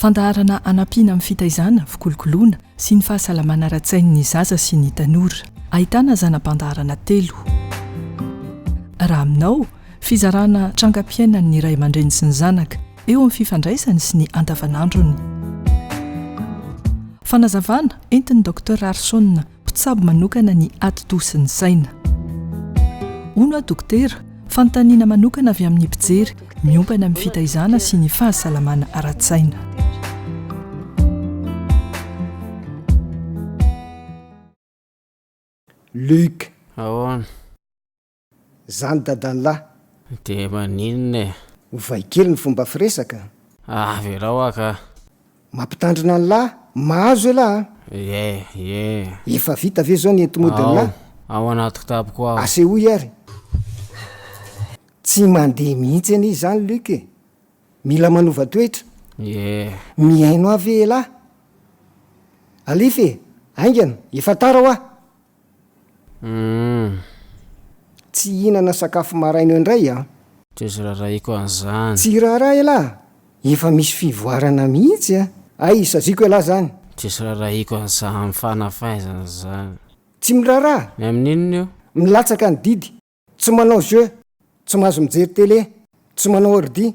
Fandaharana hanampiana amin'ny fitaizana, fikolokoloana sy ny fahasalamana ara-tsain'ny zaza sy ny tanora. Ahitana zana-pandaharana telo. Raha aminao, fizarana trangam-piainan'ny ray aman-dreny sy ny zanaka, eo amin'ny fifandraisany sy ny andavanandrony. Fanazavana entin'i Docteur Arson Mpitsabo manokana ny ati-doha sy ny saina. Hono aho dokotera, fanontaniana manokana avy amin'ny mpijery miompana amin'ny fitaizana sy ny fahasalamana ara-tsaina. Luc. Ahoana. zany dadanlah. De maninona e? Ovay kely ny fomba firesaka a! Avelao aho ka! Mampitandrina anlah! Mahazo elah a! Ie! ie! Efa vita ve zao ny entimodinlah? Ao! Ao anaty kitapoko ao! Asehoy ary! Tsy mandeha mihitsy anie izany Luc e! Mila manova toetra! Ie! Mihaino ahy ve elah? Alefa e! Haingana! Efa tara hoa! Humm. Tsy hihinana sakafo maraina eo indray aho. Tsy azo raharahiako an'izany. Tsy raharaha elah! Efa misy fivoarana mihitsy a! Hay, saziako elah izany. Tsy azo raharahiako an'izany fanafaizana izany. Tsy miraharaha! Ny amin'ny inona io? Milatsaka ny didy. Tsy manao jeux. Tsy mahazo mijery télé. Tsy manao ordi.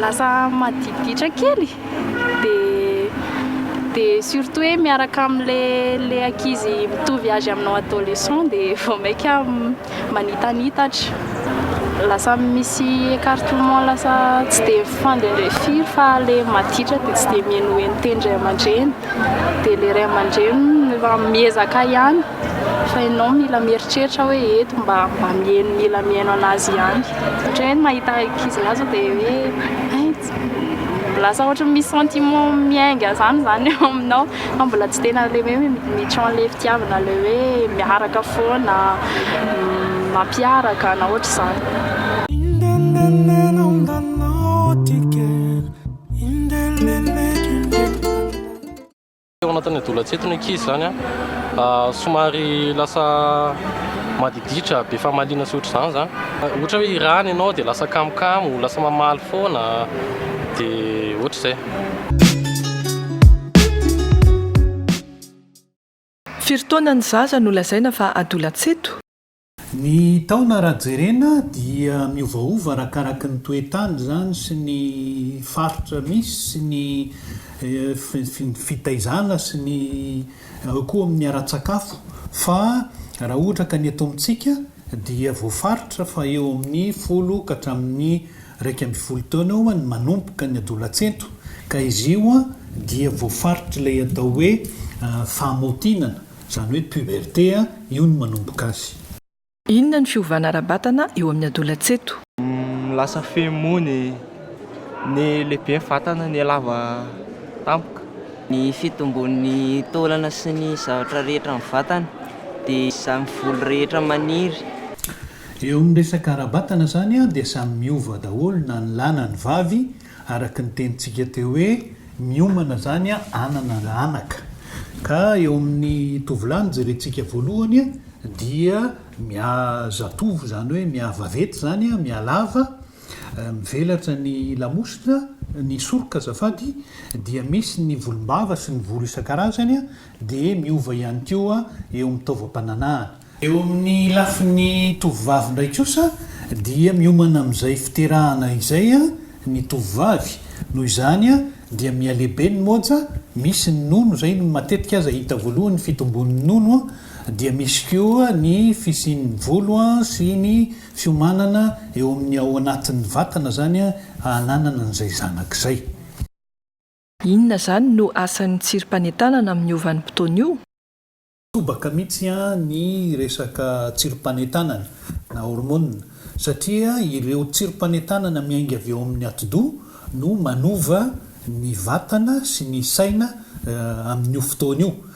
Lasa madiditra kely de surtout hoe miaraka amle ankizy mitovy âge aminao adolescent de vao maika manitanitatra, lasa misy écartement lasa tsy dia mifandendrey firy fa le maditra dia tsy dia mihenoheno teny ray aman-dreny dia le ray aman-dreny efa miezaka ihany fa ianao mila mieritreritra hoe eto mba mba miheno mila miheno an'azy ihany satria ny mahita ankizy lahy zao dia hoe hay lasa ohatry ny misy sentiment miainga zany zany eo aminao Fa mbola tsy tena le hoe mi-tron le fitiavana le hoe miaraka foana, mampiaraka na ohatr'izany. Teo anatin'ny adolantsento ny ankizy izany a, somary lasa madiditra, be famaliana sy ohatr'izany izany. Ohatra hoe hirany ianao dia lasa kamokamo, lasa mamaly foana, dia ohatr'izay. Firy taona ny zaza no lazaina fa adolats eto? Ny taona raha jerena dia miovaova arakaraky ny toe-tany izany sy ny faritra misy sy ny fitaizana sy ny eo koa amin'ny ara-tsakafo fa raha ohatra ka ny eto amintsika dia voafaritra fa eo amin'ny folo ka hatramin'ny iraika ambin'ny folo taona eo ny manomboka ny adolatsento ka izy io dia voafaritr'ilay atao hoe fahamaotinana, izany hoe puberté, io no manomboka azy. Inona ny fiovana ara-batana eo amin'ny adolatsento? Lasa feno moa ny. Ny lehiben'ny vatana ny lava tampoka. Ny fitombon'ny taolana sy ny zavatra rehetra amin'ny vatana dia izany volo rehetra maniry. Eo amin'ny resaka ara-batana izany dia samy miova daholo na ny lahy na ny vavy araka ny tenintsika teo hoe miomana izany hanana anaka ka eo amin'ny tovolahy ny jerentsika voalohany dia miha zatovo izany hoe miha vavety izany miha lava Raha mivelatra ny lamosina, ny soroka azafady, dia misy ny volombava sy ny volo isan-karazany, dia miova ihany koa eo amin'ny taovam-pananahana. Eo amin'ny lafiny tovovavy indray kosa dia miomana amin'izay fiterahana izay ny tovovavy, noho izany dia mihalehibe ny moja, misy ny nono, izay no matetika aza hita voalohany ny fitombon'ny nono, dia misy koa ny fisian'ny volo sy ny. Fiomanana eo amin'ny ao anatin'ny vatana izany hananana an'izay zanaka izay. Inona izany no asan'ny tsirim-panentanana amin'io vanim-potoana io? Tobaka mihitsy ny resaka tsirim-panentanana na hormonina satria ireo tsirim-panentanana miainga avy ao amin'ny atidoha no manova ny vatana sy ny saina amin'io fotoana io.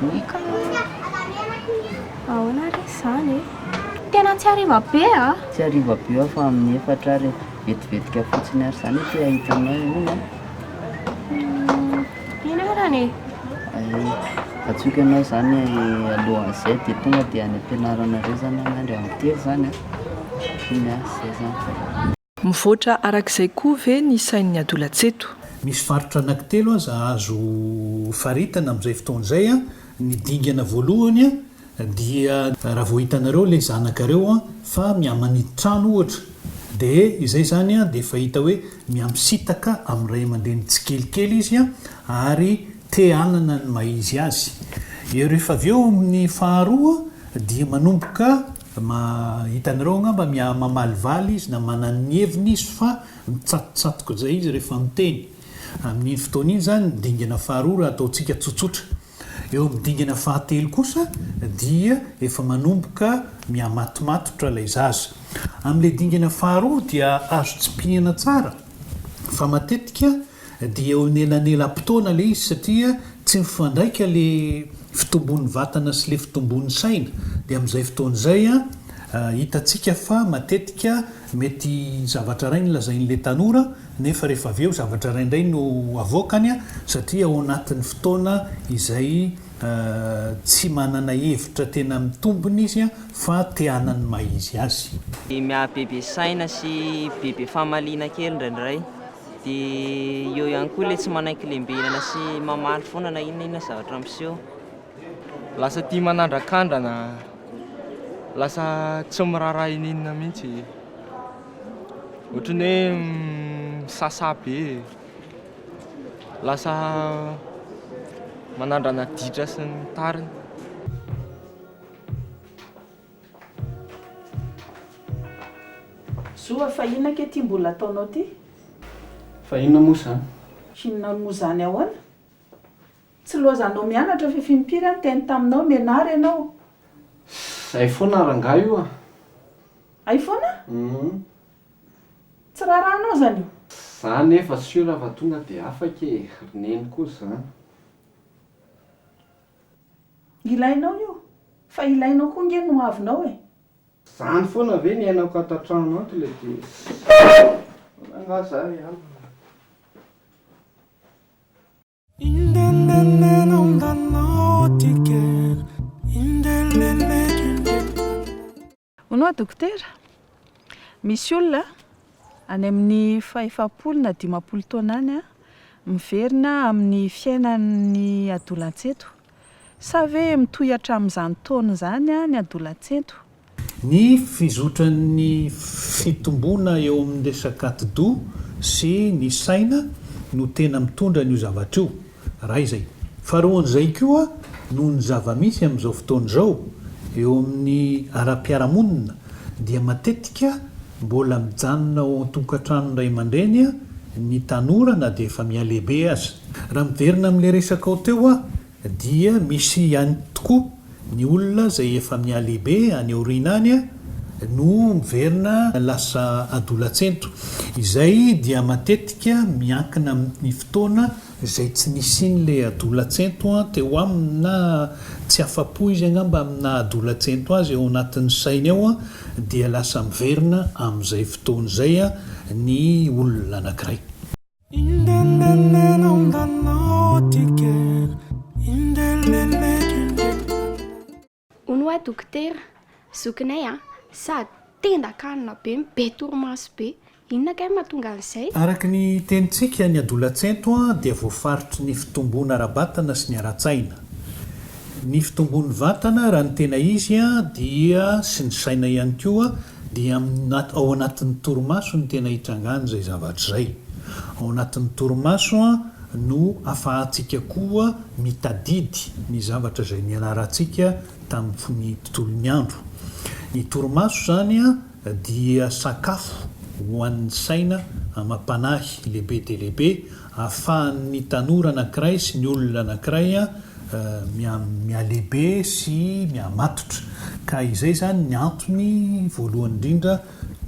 Boika ahoana ary izany e? Tena tsy hariva be a! Tsy hariva be aho fa amin'ny efatra ary vetivetika fotsiny ary izany ity hahita anao eo iny a! Eny arany e! Hay, antsoiko ianao izany alohan'izay dia tonga dia any am-pianaranareo izany angah indray amin'ny telo izany a! Iny a, izay izany. Mivoatra arak'izay koa ve ny sain'ny adolatsy eto? Misy faritra anankitelo aza azo faritana amin'izay fotoana izay. Ny dingana voalohany dia raha vao hitanareo ilay zanakareo fa mihamaniditra trano ohatra dia izay izany dia efa hita hoe mihamisitaka amin'ny ray aman-dreny tsikelikely izy ary te hanana ny maha izy azy. Ary rehefa avy eo amin'ny faharoa dia manomboka Ma, hitanareo angamba mia, mamalivaly izy na manana ny heviny izy fa mitsatotsatoka izay izy rehefa miteny. Amin'iny fotoana iny izany ny dingana faharoa raha ataontsika tsotsotra. Eo amin'ny dingana fahatelo kosa dia efa manomboka miha-matomatotra ilay zaza. Amin'ilay dingana faharoa dia azo tsipihina tsara fa matetika Dia eo anelanelam-potoana le izy satria tsy mifandraika le fitombon'ny vatana sy le fitombon'ny saina dia amin'izay fotoana izay hitantsika fa matetika mety zavatra iray no lazain'le tanora nefa rehefa avy eo zavatra iray indray no avoakany satria ao anatin'ny fotoana izay tsy manana hevitra tena mitombina izy fa te hanan'ny maha izy azy. Dia miha bebe saina sy bebe famaliana kely indraindray. Dia eo ihany koa ilay tsy manaiky lembenana sy mamaly foana na inona inona zavatra miseho. Lasa tia manandrakandrana, lasa tsy miraharaha ininona mihitsy. Ohatran'ny hoe misasà be, lasa manandrana ditra sy ny tariny. Zo a, fa inona ange ity mbola ataonao ity? Fa inona moa izany? Inona moa izany ahoana? Tsy loazanao mianatra fa fimpiry aho niteny taminao, mianara ianao. Zay foana ary angaha io a? Hay foana? Humm. Tsy raharahanao izany io? Za nefa sur fa tonga dia afaka e, ry neny koa izany. Ilainao io, fa ilainao koa nge ny hoavinao e! Zany foana ve ny ainako ato an-trano ato le tena angaha za ry alina. Hono hoa dokotera? Misy olona any amin'ny fahefapolo na dimampolo taona any miverina amin'ny fiainan'ny adolantsento. Sa ve mitohy hatramin'izany taona izany ny adolantsento? Ny fizotran'ny fitomboana eo amin'ny resaka atidoha sy ny saina no tena mitondra an'io zavatra io. Raha izay. Faharoa an'izay koa, noho ny zava-misy amin'izao fotoana izao eo amin'ny ara-piarahamonina dia matetika mbola mijanona ao an-tokantranon'ny ray aman-dreny ny tanora na dia efa mihalehibe aza. Raha miverina amin'ilay resakao teo aho dia misy ihany tokoa Ny olona izay efa mihalehibe any aoriana any no miverina lasa adolatsento. Izay dia matetika miankina amin'ny fotoana izay tsy nisian'ilay adolatsento teo aminy na tsy afa-po izy angamba amin'ny naha adolatsento azy ao anatin'ny sainy ao dia lasa miverina amin'izay fotoana izay ny olona anankiray. Hono hoa dokotera, zokinay a, sady tenda kanina be, be torimaso be, inona kay mahatonga an'izay? Araka ny tenintsika ny adolatsento dia voafaritry ny fitomboana ara-batana sy ny ara-tsaina. Ny fitomboan'ny vatana raha ny tena izy dia sy ny saina ihany koa Dia amin'ny ao anatin'ny torimaso no tena itrangan'izay zavatra izay. Ao anatin'ny torimaso no afahantsika koa mitadidy ny zavatra izay nianarantsika tamin'ny tontolon'ny andro. Ny torimaso izany dia sakafo ho an'ny saina amam-panahy lehibe dia lehibe Ahafahan'ny tanora anankiray sy ny olona anankiray mihalehibe sy mihamatotra. Ka izay izany ny antony voalohany indrindra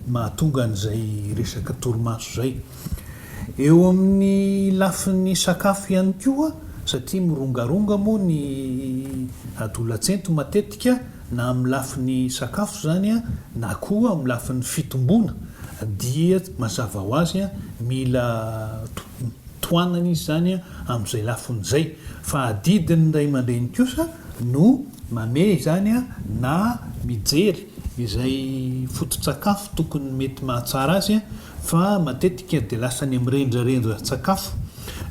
mahatonga an'izay resaka torimaso izay. Eo amin'ny lafiny sakafo ihany koa, satria mirongaronga moa ny adolatsento matetika, na amin'ny lafiny sakafo izany na koa amin'ny lafiny fitomboana dia mazava ho azy mila tohanana izy izany amin'izay lafiny izay fa adidin'ny ray aman-dreny kosa no mamehy izany na mijery izay foto-tsakafo tokony mety mahatsara azy fa matetika dia lasa any amin'ny rendrarendran-tsakafo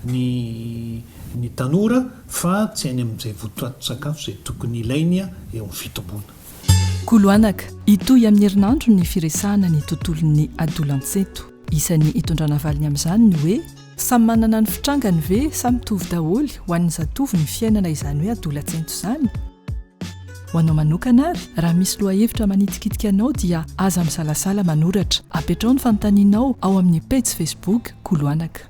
ny ny tanora fa tsy any amin'izay votoatin-tsakafo izay tokony ilainy eo amin'ny fitomboana. Koloanaka, Hitohy amin'ny herinandro ny firesahana ny tontolon'ny adolantsento. Isan'ny hitondrana valiny amin'izany ny hoe samy manana ny fitrangany ve sa mitovy daholo ho an'ny zatovo ny fiainana izany hoe adolantsento izany? Ho anao manokana ary, raha misy lohahevitra manitikitika anao dia aza misalasala manoratra. Apetraho ny fanontanianao ao amin'ny pejy Facebook Koloanaka.